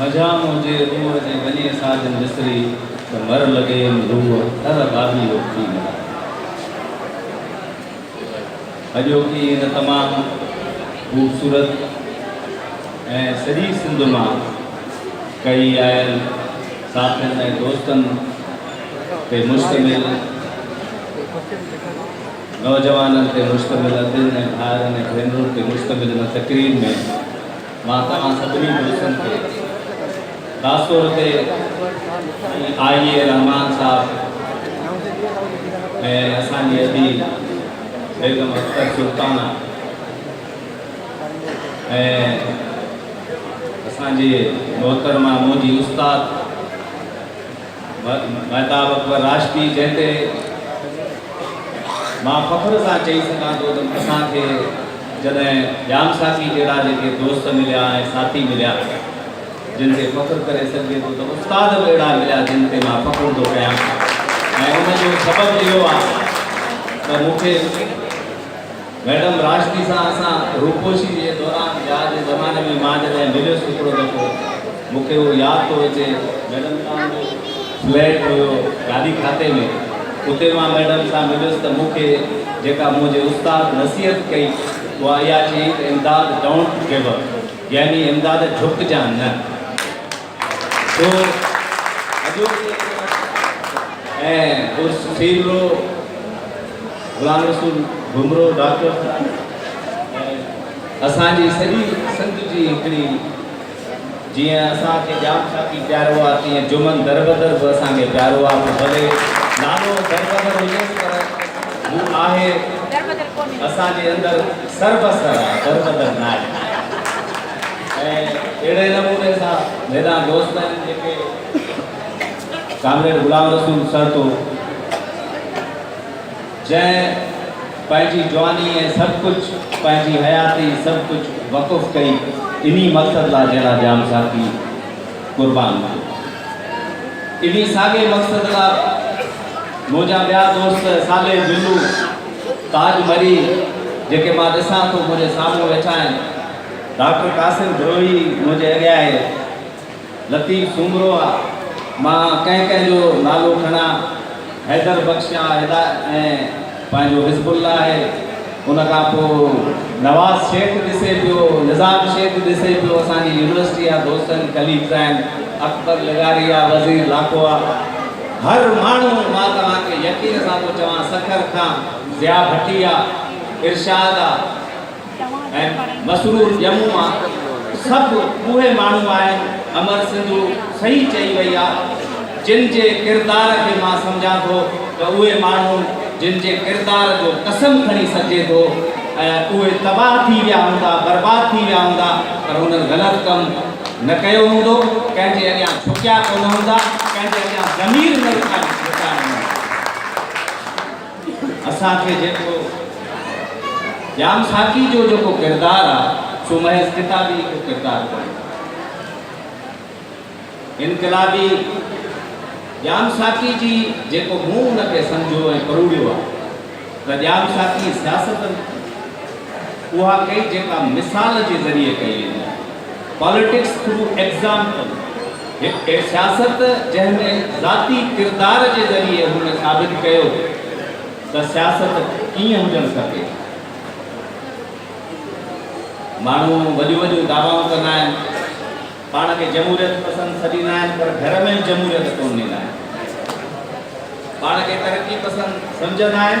مجاهه منهنجي روح جي وني ساجن وسري ته مر لڳيم روح ٿر ٻاٻي او ٿي مران اڄوڪي هن تمام خوبصورت ۽ سڄي سنڌ مان ڪهي آيل ساٿين ۽ دوستن تي مشتمل نوجوانن تي مشتمل ادين ۽ ڀائرن ۽ ڀينرن تي مشتمل هن تقريب ۾ مان توهان سڀني دوستن کي خاص طور تي آئي اي رحمان صاحب ۽ اسان جي ادي بيگم اختر سلطانه ۽ اسان جي محترمه منهنجي استاد مهتاب اڪبر راشدي جنهن تي مان فخر سان چئي سگهان ٿو ته اسان کي جڏهن ڄام ساقي جهڙا جيڪي دوست مليا ۽ ساٿي مليا جن تي فخر ڪري سگهجي ٿو ته استاد به اهڙا مليا جن تي مان فخر ٿو ڪيان ۽ ان جو سبب اهو آهي ته مون کي ميڊم راشدي سان اسان روپوشي جي دوران وياء جي زماني ۾ مان جڏهن مليس هڪڙو دفعو مون کي اهو ياد ٿو اچي ميڊم سان منهنجو فليٽ هيو گاڏي کاتي ۾ اتي مان ميڊم سان مليس ته مون کي جيڪا منهنجي استاد نصيحت ڪئي اها اها چيائين ته امداد ڊونٽ گيو اپ يعني امداد جهڪجان نه. سو اڄوڪي ۽ اس سيلرو غلام رسول گهمرو ڊاڪٽر صاحب ۽ اسان جي سڄي سنڌ جي هڪڙي جيئن اسان کي ڄام شاخي پيارو آ تيئن جمن دربدر به اسان کي پيارو آ پوء ڀلي نالو دربدر هجيس پر هو آهي اسان جي اندر سربسر آ دربدر ناهي ۽ اهڙي نموني سان هيڏانهن دوستن جيڪي ڪامريڊ غلام رسول سهتو جنهن پنهنجي جواني ۽ سڀ ڪجهه پنهنجي حياتي سڀ ڪجهه وقف ڪئي انهي مقصد لا جنهن لا جام ساٿي قربان ٿيو انهي ساڳي مقصد لا منهنجا ٻيا دوست صالح جلو تاج مري جيڪي مان ڏسان ٿو منهنجي سامهون ويٺا آهن ڊاڪٽر قاسم بروهي منهنجي اڳيان آهي، لطيف سومرو آ، مان ڪنهن ڪنهن جو نالو کڻان، حيدر بخش آ، هدايت ۽ پنهنجو حزب الله آهي، ان کان پوء نواز شيخ ڏسي پيو، نظام شيخ ڏسي پيو، اسان جي يونيورسٽي جا دوست آهن، ڪليگز آهن، اڪبر لغاري آ، وزير لاکو آ، هر ماڻهو، مان توهان کي يقين سان ٿو چوان، سکر کان ضياء ڀٽي آ، ارشاد آ. ۽ مسرور ڄمون مان سڀ اهي ماڻهو آهن امر سنڌو صحيح چئي وئي آ جن جي ڪردار کي مان سمجهان ٿو ته اهي ماڻهو جن جي ڪردار جو قسم کڻي سگهجي ٿو ۽ اهي تباهه ٿي ويا هوندا برباد ٿي ويا هوندا پر انهن غلط ڪم نه ڪيو هوندو ڪنهن جي اڳيان جهڪيا ڪونه هوندا ڪنهن جي اڳيان ضمير نه رڪائي اسان کي جيڪو ڄام ساقي جو جيڪو ڪردار آ سو محض ڪتابي ڪو ڪردار ڪونهي. انقلابي ڄام ساقي جي جيڪو مون ان کي سمجهيو ۽ پروڙيو آ ته ڄام ساقي سياست اها ڪئي جيڪا مثال جي ذريعي ڪئي ويندي آ Politics through Example. هڪ سياست جنهن ۾ ذاتي ڪردار جي ذريعي هن ثابت ڪيو ته سياست ڪيئن هجڻ کپي. ماڻهو وڏيون وڏيون دعوائون ڪندا آهن، پاڻ کي جمهوريت پسند سڏيندا آهن پر گهر ۾ به جمهوريت ڪونه ڏيندا آهن. پاڻ کي ترقي پسند سمجهندا آهن.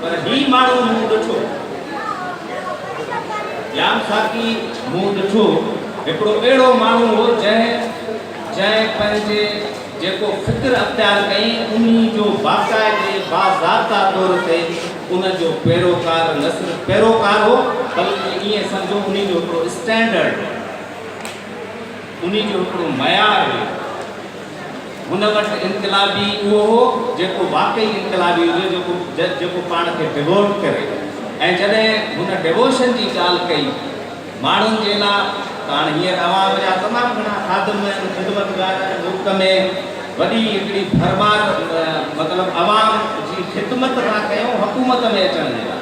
پر هي ماڻهو مون ڏٺو. ڄام خاڪي مون ڏٺو هڪڙو اهڙو ماڻهو هو جنهن جنهن پنهنجي جيڪو فڪر اختيار ڪئين انهي جو باقاعدي باضابطا طور تي ان جو پيروڪار نه صرف پيروڪار هو بلڪه ائين سمجهو انهي جو هڪڙو اسٽينڊرڊ هو انهي جو هڪڙو معيار هو. هن وٽ انقلابي ئي اهو هو جيڪو واقعي انقلابي هجي، جيڪو پاڻ کي ڊووٽ ڪري ۽ جڏهن هن ڊووشن جي ڳالهه ڪئي ماڻهن جي لا ته هاڻ هينئر عوام جا تمام گهڻا خادم ۽ خدمتگار ۽ ملڪ ۾ وڏي هڪڙي ڀرمار مطلب عوام جي خدمت ٿا ڪيون حڪومت ۾ اچڻ جي لا.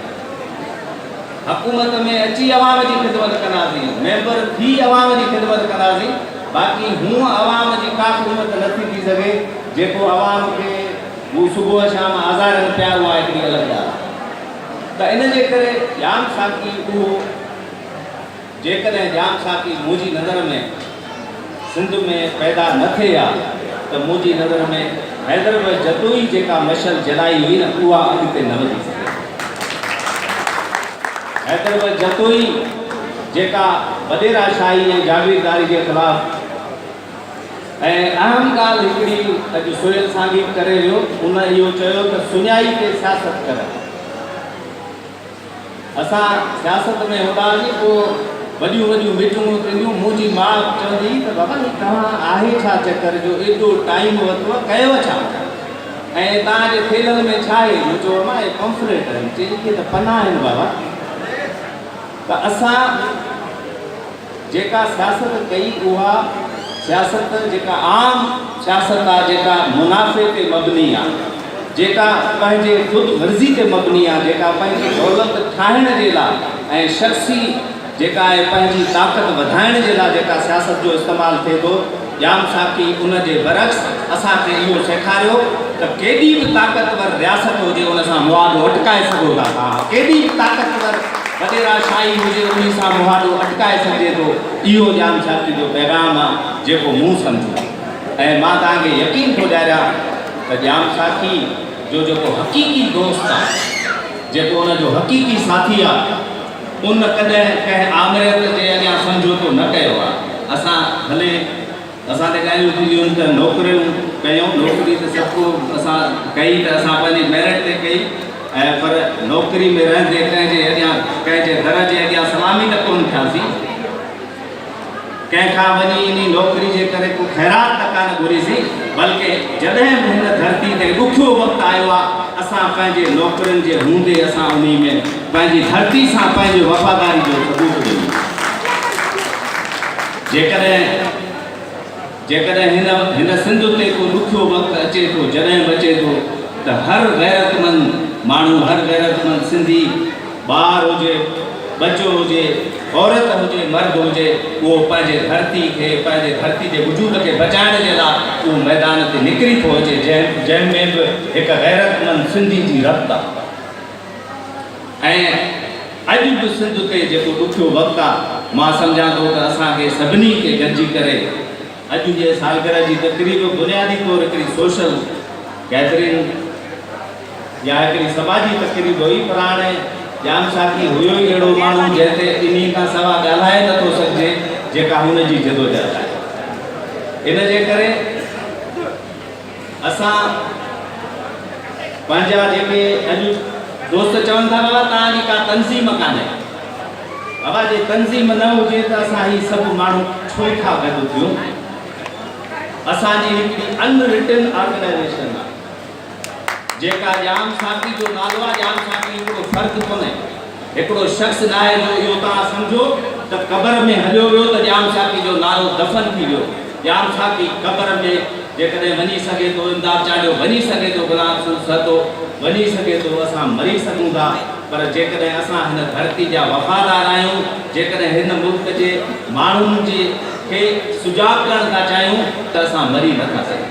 حڪومت ۾ اچي عوام جي خدمت ڪنداسين، ميمبر ٿي عوام جي خدمت ڪنداسين، باقي هونء عوام جي ڪا خدمت نه ٿي ٿي سگهي، جيڪو عوام کي هو صبح شام آزارين پيا اها هڪڙي الڳ ڳالهه آهي ته ان جي ڪري ڄام ساقي اهو. جيڪڏهن ڄام ساقي منهنجي نظر ۾ سنڌ ۾ پيدا نه ٿئي ها ته منهنجي نظر ۾ حيدر به جتوئي جيڪا مشعل جلائي هئي نه اها اڳتي نه وڌي سگهي ها. حيدر به جتوئي جيڪا وڏيرا شاهي ۽ جاگيرداري جي خلاف ۽ اهم ڳالهه هڪڙي اڄ سهيل سانگي به ڪري ويو ان اهو چيو ته سڃائي تي سياست ڪرڻ. اسان سياست ۾ هوندا هئاسين پوء وڏيون وڏيون ميٽنگون ٿينديون، مون جي ماء به چوندي هئي ته بابا هي توهان آهي ڇا چڪر جو ايڏو ٽائيم ورتو ڪيو ڇا ۽ توهان جي ٿيلهن ۾ ڇا هي؟ مون چيو اما اهي پمفليٽ آهن، چئي اهي ته پنا آهن بابا ته اسان جيڪا سياست ڪئي اها سياست جيڪا عام سياست آ جيڪا منافعي تي مبني آ جيڪا پنهنجي خود غرضي تي مبني آ جيڪا پنهنجي دولت ٺاهڻ جي لا۽ شخصي جيڪا آهي پنهنجي طاقت وڌائڻ جي لا جيڪا سياست جو استعمال ٿئي ٿو ڄام ساقي ان جي برعڪس اسان کي اهو سيکاريو ته ڪيڏي به طاقتور رياست هجي ان سان مهاڏو اٽڪائي سگهو ٿا ها ڪيڏي به طاقتور وڏيرا شاهي هجي انهي سان مهاڏو اٽڪائي سگهجي ٿو اهو ڄام ساقي جو پيغام آ جيڪو مون سمجهيو ۽ مان توهان کي يقين ٿو ڏياريان ته ڄام ساقي جو جيڪو حقيقي دوست آ جيڪو ان جو حقيقي ساٿي آ. ان ڪڏهن ڪنهن آمريت جي اڳيان سمجهوتو نه ڪيو آ. اسان ڀلي اسان تي ڳالهيون ٿينديون ته نوڪريون ڪيون، نوڪري ته سڀ ڪو اسان ڪئي ته اسان پنهنجي ميرٽ تي ڪئي ۽ پر نوڪري ۾ رهندي ڪنهن جي اڳيان ڪنهن جي در جي اڳيان سلامي ته ڪونه ٿياسين. ڪنهن کان وڃي انهي نوڪري جي ڪري ڪو خيرات ته ڪانه گهريسين، بلڪه جڏهن به هن ڌرتي تي ڏکيو وقت آيو آ، اسان پنهنجي نوڪرين جي هوندي اسان انهي ۾ پنهنجي ڌرتي سان پنهنجي وفاداري جو ثبوت ڏنو آ. جيڪڏهن. جيڪڏهن هن هن سنڌ تي ڪو ڏکيو وقت اچي ٿو جڏهن به اچي ٿو ته هر غيرتمند ماڻهو هر غيرتمند سنڌي ٻار هجي ٻچو هجي عورت هجي مرد هجي اهو پنهنجي ڌرتي کي پنهنجي ڌرتي جي وجود کي بچائڻ جي لاء اهو ميدان تي نڪري ٿو اچي جنهن ۾ به هڪ غيرتمند سنڌي جي رت آهي. ۽ اڄ به سنڌ تي جيڪو ڏکيو وقت آ مان سمجهان ٿو ته اسان کي سڀني کي گڏجي ڪري اڄ جي سالگرهه جي تقريب بنيادي طور هڪڙي سوشل گيدرنگ يا هڪڙي سماجي تقريب هئي پر هاڻي ڄام ساقي هيو ئي اهڙو ماڻهو جنهن تي انهي کان سوا ڳالهائي نه ٿو سگهجي جيڪا هن جي جدوجهد آهي ان جي ڪري اسان پنهنجا جيڪي اڄ دوست چون ٿا بابا توهان جي ڪا تنظيم ڪانهي بابا جي تنظيم نه هجي ته اسان هي سڀ ماڻهو ڇو ٿا گڏ ٿيون اسان جي هڪڙي ان رٽن آرگنائزيشن آهي جيڪا ڄام ساقي جو نالو آهي ڄام ساقي هڪڙو فرد ڪونهي هڪڙو شخص ناهي جو اهو توهان سمجهو ته قبر ۾ هليو ويو ته ڄام شاکي جو نارو دفن ٿي ويو. ڄام شاکي قبر ۾ جيڪڏهن وڃي سگهي ٿو، امداد چانڊيو وڃي سگهي ٿو، غلام رسول سهتو وڃي سگهي ٿو، اسان مري سگهون ٿا پر جيڪڏهن اسان هن ڌرتي جا وفادار آهيون، جيڪڏهن هن ملڪ جي ماڻهن جي کي سجاڳ ڪرڻ ٿا چاهيون ته اسان مري نه ٿا سگهون.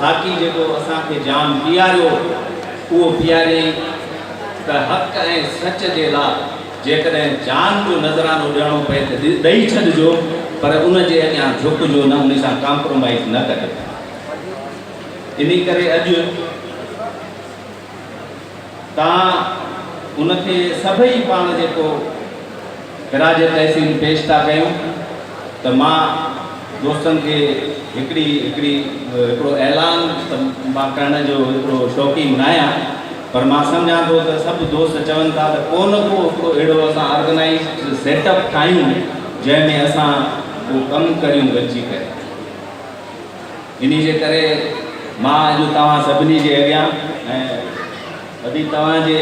خاڪي جيڪو اسان کي جام پياريو اهو پياريائين ته حق ۽ سچ جي لا جيڪڏهن جان جو نذرانو ڏيڻو پئي ته ڏئي ڇڏجو پر ان جي اڳيان جهڪجو نه ان سان ڪامپرومائيز نه ڪجو انهي ڪري اڄ تان ان کي سڀئي پاڻ جيڪو خراج تحسين پيش ٿا ڪيون ته مان دوستن کي هڪڙي هڪڙي هڪڙو اعلان ته مان ڪرڻ جو هڪڙو شوقين ناهيان پر مان سمجهان ٿو ته سڀ دوست چون ٿا ته ڪو نه ڪو هڪڙو اهڙو اسان آرگنائيزڊ سيٽ اپ ٺاهيون جنهن ۾ اسان ڪو ڪم ڪريون گڏجي ڪري. انهي جي ڪري مان اڄ توهان سڀني جي اڳيان ۽ ودي توهان جي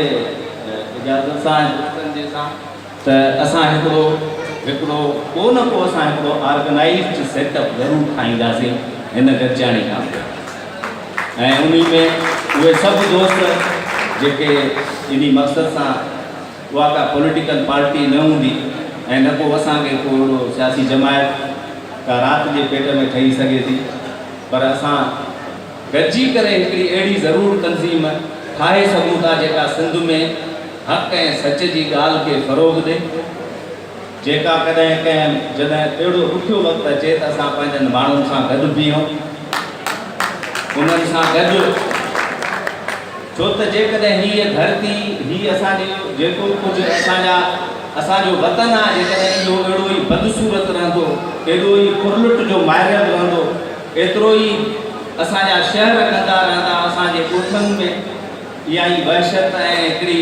اجازت سان ۽ دوستن جي سان ته اسان هڪڙو هڪڙو ڪو نه ڪو اسان هڪڙو آرگنائيزڊ سيٽ اپ ضرور ٺاهينداسين هن گڏجاڻي کان پوء ۽ انهي ۾ اهي سڀ دوست جيڪي انهي مقصد سان اها ڪا پوليٽيڪل پارٽي نه هوندي ۽ نه ڪو اسان کي ڪو اهڙو سياسي جماعت ڪا رات جي پيٽ ۾ ٺهي سگهي ٿي پر اسان گڏجي ڪري هڪڙي اهڙي ضرور تنظيم ٺاهي سگهون ٿا جيڪا سنڌ ۾ حق ۽ سچ جي ڳالهه کي فروغ ڏي جيڪا ڪڏهن ڪنهن جڏهن اهڙو ڏکيو وقت اچي ته اسان پنهنجن ماڻهن سان گڏ بيهون انهن سان گڏ ڇو ته جيڪڏهن هيء ڌرتي، هي اسان جو جيڪو ڪجهه اسان جا، اسان جو وطن آهي، جيڪڏهن اهو اهڙو ئي بدصورت رهندو، ايڏو ئي ڦرلٽ جو مائرل رهندو، ايترو ئي اسان جا شهر ڪندا رهندا، اسان جي ڳوٺن ۾ اها ئي وحشت ۽ هڪڙي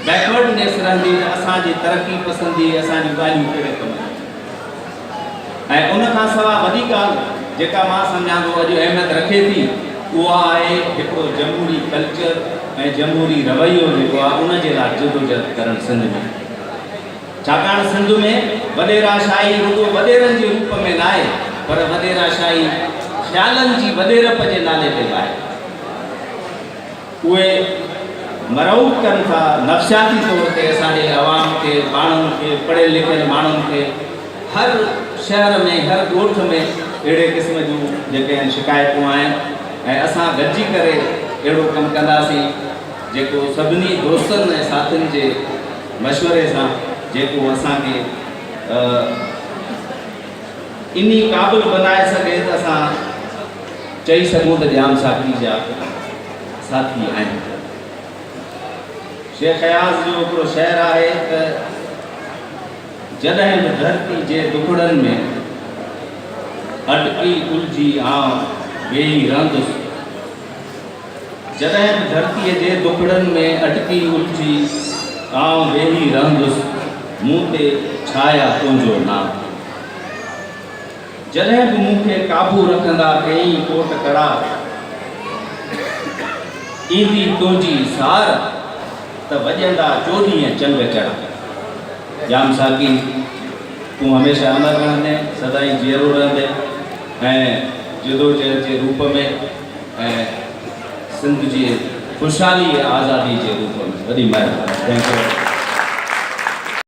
Backwardness رهندي ته اسان جي ترقي پسنديء اسان جون ڳالهيون ڪهڙي ڪم جون ٿينديون؟ ۽ ان کان سوا وڏي ڳالهه جيڪا مان سمجهان ٿو اڄ اهميت رکي ٿي اها آهي هڪڙو جمهوري ڪلچر ۽ جمهوري رويو جيڪو آهي ان جي لاء جدوجهد ڪرڻ سنڌ ۾ ڇاڪاڻ سنڌ ۾ وڏيرا شاهي رڳو وڏيرن جي روپ ۾ ناهي پر وڏيرا شاهي خيالن جي وڏيرپ جي نالي تي به آهي. اهي مرعوب ڪن ٿا، نفسياتي طور تي اسان جي عوام کي، ماڻهن کي، پڙهيل لکيل ماڻهن کي هر شهر ۾ هر ڳوٺ ۾ اهڙي قسم جون جيڪي آهن شڪايتون آهن ۽ اسان گڏجي ڪري اهڙو ڪم ڪنداسين جيڪو سڀني دوستن ۽ ساٿين جي مشوري سان جيڪو اسان کي انهي قابل بنائي سگهي ته اسان چئي سگهون ته ڄام ساقي جا ساٿي آهن. شيخ اياز جو هڪڙو شعر آهي ته، جڏهن به ڌرتي جي دکڙن ۾ اٽڪي الجهي آئون ويهي رهندس. جڏهن به ڌرتيء جي دٻڙن ۾ اٽڪي اٿي آئون ويهي رهندس، مون تي ڇايا تنهنجو ناز ٿي ويندو. جڏهن به مون کي قابو رکندا ڪيئي ڪوٽ ڪڙا ايندي تنهنجي سار ته وڄندا چوڏهين چنگ چڙا. ڄام ساقي تون هميشه امر رهندين، سدائين جيئرو رهندين ۽ جدوجهد جي روپ ۾. ۽ سنڌ جي خوشحالي ۽ آزادي جي روپ ۾ وڏي مهرباني ٿينڪ يو.